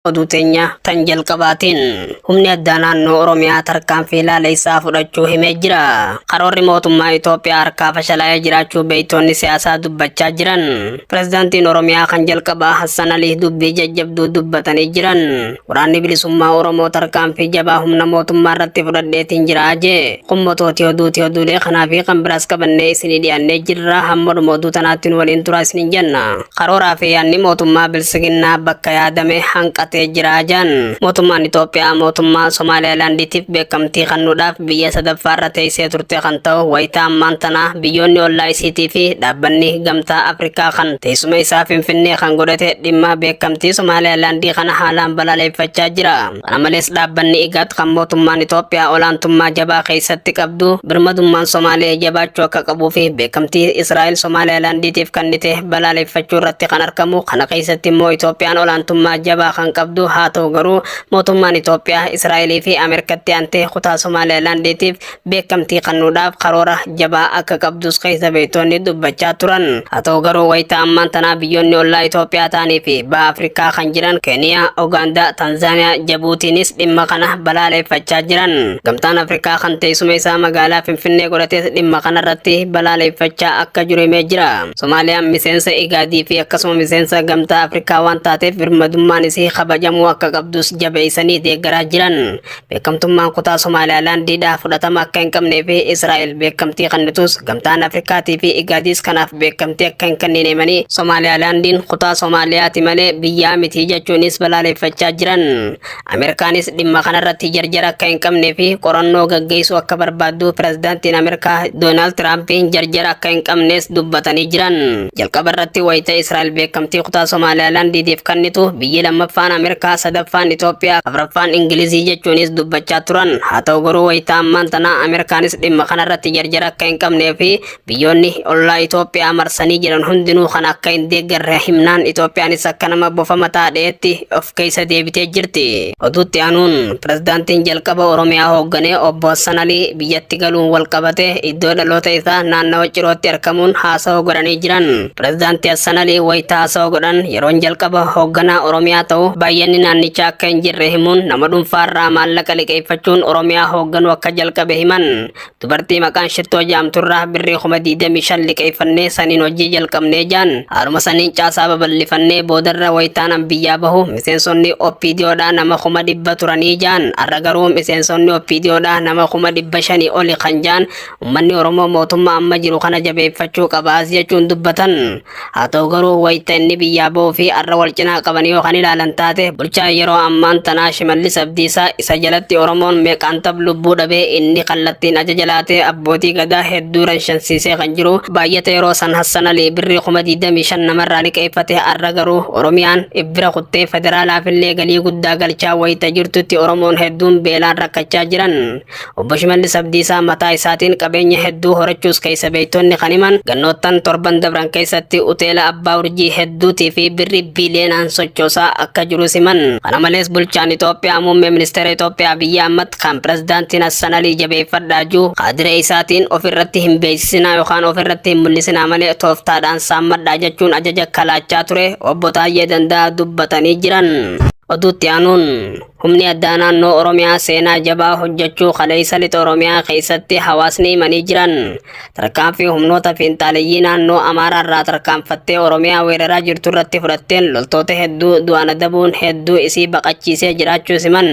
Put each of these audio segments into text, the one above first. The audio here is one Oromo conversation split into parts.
Oduu teenya tan jalqabaatiin humni addaa naannoo Oromiyaa tarkaanfii laaleessaa fudhachuu himee jira. Karoorri mootummaa Itoophiyaa harkaa fashalaa'ee jiraachuu beektoonni siyaasaa dubbachaa jiran. Pirezidaantiin Oromiyaa kan jalqabaa Hassan Alii dubbii jajjabduu dubbatanii jiran. Waraanni bilisummaa Oromoo tarkaanfii jabaa humna mootummaa irratti fudhadheetiin jira jee. Kun motooti oduuti oduulee kanaa fi kan biraas qabannee isinii dhiyaannee jirra. Hamma dhuma oduu tanaatti nu waliin turaa isiniin jenna. Karooraa fi yaadni mootummaa Bilsiginnaa bakka yaadame hanqatee jira jedhan. Mootummaan Itoophiyaa mootummaa Somaaliilaandiitiif beekamtii kennuudhaaf biyya sadaffaarra teessee turte kan ta'u wayita ammaan tanaa biyyoonni ollaa isiitii fi dhaabbanni gamtaa Afrikaa kan teessuma isaa Finfinnee kan godhate dhimma beekamtii Somaaliilaandii kana haalaan balaleeffachaa jira. Kana malees dhaabbanni IGAD kan mootummaan Itoophiyaa olaantummaa jabaa keessatti qabdu birmadummaan Somaalee jabaachuu akka qabuu fi beekamtii Israa'el Somaaliyaalaandiitiif kennite balaaleffachuu irratti kan argamu kana keessatti immoo Itoophiyaan olaantummaa jabaa kan qabdu haa ta'u garuu mootummaan Itoophiyaa Israa'elii fi Ameerikatti aantee kutaa Somaaliyaalaandiitiif beekamtii kennuudhaaf karoora jabaa akka qabdus keessa beektoonni dubbachaa turan haa ta'u garuu wayita ammaan tanaa biyyoonni ollaa Itoophiyaa ta'anii fi baha Afrikaa kan jiran Keeniyaa, Ugaandaa, Tanzaaniyaa, Jabuutiinis dhimma kana balaaleeffachaa jiran. Gamtaan Afrikaa kan teessuma isaa magaalaa Finfinnee godhates dhimma kanarratti balaaleeffachaa akka jiru himee jira. Somaaliyaan miseensa Igaadii fi akkasuma miseensa Gamtaa Afrikaa waan taateef birmadummaan isii kabajamuu akka qabdus jabeessanii deeggaraa jiran. Beekamtummaan kutaa Somaaliyaalaandii dhaa fudhatama akka hin qabnee fi Israa'el beekamtii kennitus gamtaan Afrikaatii fi Igaadiis kanaaf beekamtii akka hin kennine himanii Somaaliyaalaandiin kutaa Somaaliyaati malee biyyaa miti jechuunis balaaleffachaa jiran. Ameerikaanis dhimma kanarratti jarjara akka hin qabnee fi qorannoo gaggeessuu akka barbaaddu pirezidaantiin Ameerikaa Doonaald Tiraampiin jarjara akka hin qabnes dubbatanii jiran. Jalqaba irratti wayita Israa'el beekamtii kutaa Somaaliyaalaandiitiif kennitu biyyi lammaffaan Ameerikaa, sadaffaan Itoophiyaa, afraffaan Ingilizii jechuunis dubbachaa turan. Haa ta'u garuu wayita ammaan tanaa Ameerikaanis dhimma kanarratti jarjara akka hin qabnee fi biyyoonni ollaa Itoophiyaa marsanii jiran hundinuu kan akka hin deeggarre himnaan Itoophiyaanis akka nama bofama taadheetti of keessa deebitee jirti. Oduutti aanuun pirezidaantiin jalqaba Oromiyaa hoogganee obbo Hassan Alii biyyatti galuun wal qabate iddoo dhaloota isaa naannawa Cirootti argamuun haasawa godhanii jiran. Pirezidaantii Hassan Alii wayita haasawa godhan yeroon jalqaba hoogganaa Oromiyaa ta'u baay'anni naannichaa akka hin jirre himuun nama dhuunfaarraa maallaqa liqeeffachuun Oromiyaa hoogganuu akka jalqabe himan. Dubartii maqaan shittoo jaamturraa birrii kuma 25 liqeeffannee saniin hojii jalqabnee jaan haaluma saniin caasaa babal'ifannee boodarra wayitaanan biyyaa bahu miseensonni oppiidiyoodhaa nama kuma dhibba turanii jaan har'a garuu miseensonni oppiidiyoodhaa nama kuma dhibba shanii oli kan jaan ummanni Oromoo mootummaa amma jiru kana jabeeffachuu qabaas jechuun dubbatan. Haa ta'u garuu wayita inni biyyaa ba'uu fi har'a wal cinaa qaban yoo kan ilaalan taate bulchaan yeroo ammaan tanaa Shimallis Abdiisaa isa jalatti Oromoon meeqaan tab lubbuu dhabee inni kallattiin ajaja laatee abbootii gadaa hedduu ranshansiisee kan jiru baay'ata yeroo san Hassan Alii birrii kuma 25 namarraa liqeeffate har'a garuu Oromiyaan ibbira kuttee federaalaafillee galii guddaa galchaa wayita jirtutti Oromoon hedduun beelaan rakkachaa jiran. Obbo Shimallis Abdiisaa mataa isaatiin qabeenya hedduu horachuus keessa beektonni kan himan gannoottan torban dabran keessatti uteela abbaa urjii hedduutii fi birrii biiliyoonaan sochoosaa akka jirus himan. Kana malees bulchaan Itoophiyaa muummee ministeera Itoophiyaa Abiyyi Ahmad kan pirezidaantiin Hassan Alii jabeeffadhaa jiru kaadiree isaatiin ofirratti hin beeksisinaa yookaan ofirratti hin mul'isinaa malee tooftaadhaan saammadhaa jechuun ajaja kalaachaa ture obbo Taayyee Danda'a dubbatanii jiran. Oduutti aanuun Humni addaa naannoo Oromiyaa seenaa jabaa hojjechuu kaleessa lixa Oromiyaa keessatti hawaasni himanii jiran tarkaanfii humnoota fiinxaaleyyii naannoo Amaaraa irraa tarkaanfattee Oromiyaa weeraraa jirtu irratti fudhatteen loltoota hedduu du'aan adabuun hedduu isii baqachiisee jiraachuu siman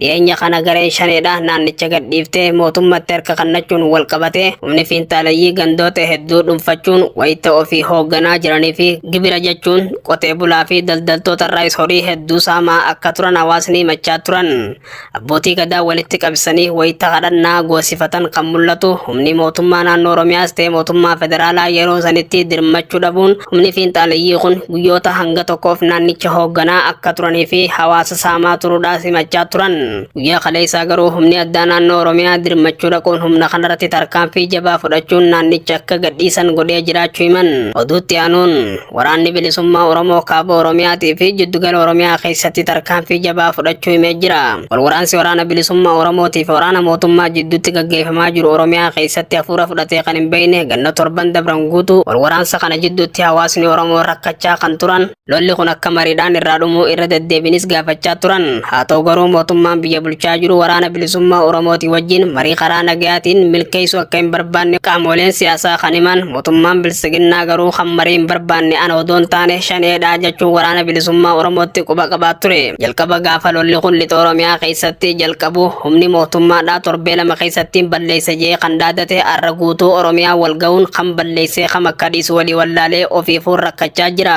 dhiyeenya kana gareen shaneedha naannicha gadhiiftee mootummatti harka kannachuun wal qabatee humni fiinxaaleyyii gandoota hedduu dhuunfachuun wayita ofii hoogganaa jiranii fi gibira jechuun Qotee bulaa fi daldaltoota irraayis horii hedduu saamaa akka turan hawaasni himachaa turan. Abbootii gadaa walitti qabsanii wayita kadhannaa goosifatan kan mul'atu humni mootummaa naannoo Oromiyaas ta'e mootummaa federaalaa yeroo sanitti dirmachuu dhabuun humni fiinxaaleyyii kun guyyoota hanga tokkoof naannicha hoogganaa akka turanii fi hawaasa saamaa turuudhaas himachaa turan. Guyyaa kaleessaa garuu humni addaa naannoo Oromiyaa dirmachuu dhaquun humna kanarratti tarkaanfii jabaa fudhachuun naannicha akka gadhiisan godhee jiraachuu himan. Oduutti aanuun. Waraanni bilisummaa Oromoo kaaba Oromiyaatii fi jiddugala Oromiyaa keessatti tarkaanfii jabaa fudhachuu himee jira. Walwaraansi waraana bilisummaa Oromootii fi waraana mootummaa jidduutti gaggeeffamaa jiru Oromiyaa keessatti hafuura fudhatee kan hin beekne ganna torban dabran guutuu walwaraansa kana jidduutti hawaasni Oromoo rakkachaa kan turan lolli kun akka mariidhaan irraa dhumuu irra deddeebinis gaafachaa turan. Haa ta'u garuu mootummaan biyya bulchaa jiru waraana bilisummaa Oromootii wajjin marii karaa nagayaatiin milkeessuu akka hin barbaanne qaamoleen siyaasaa kan himan Mootummaan bilsiginnaa garuu kan marii hin barbaanne ana odoo hin taane shaneedha jechuun waraana bilisummaa Oromootti quba qabaa ture. Jalqaba gaafa lolli kun lixa Oromiyaa keessatti jalqabu humni mootummaadhaa torbee lama keessatti balleessa jee kan dhaadate har'a guutuu Oromiyaa wal ga'uun kan balleessee kam akka dhiisu walii wallaalee ofiifuu rakkachaa jira.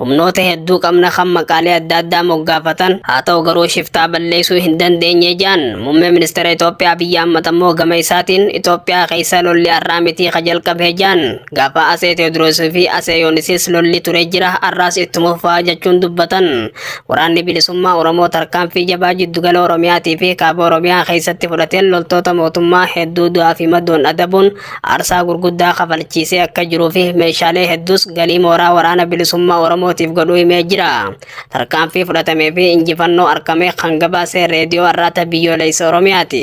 Humnoota hedduu qabna kan maqaalee adda addaa moggaafatan haa ta'u garuu shiftaa balleessuu hin dandeenye jedhan muummee ministeera Itoophiyaa Abiyyi Ahmad ammoo gama isaatiin Itoophiyaa keessa lolli har'aa mitii ka jalqabee jedhan gaafa Atsee Teewodiroos fi Atsee Yoonisis lolli ture jira har'aas ittuma fufaa jechuun dubbatan waraanni bilisummaa Oromoo tarkaanfii jabaa jiddugala Oromiyaatii fi kaaba Oromiyaa keessatti fudhateen loltoota mootummaa hedduu du'aa fi madoon adabuun aarsaa gurguddaa kafalchiisee akka jiruu fi meeshaalee hedduus galii mooraa waraana bilisummaa Oromootiif godhuu himee jira. Tarkaanfii fudhatamee fi injifannoo arkamee kan gabaasee reediyoo arraata biyyooleysa Oromiyaati.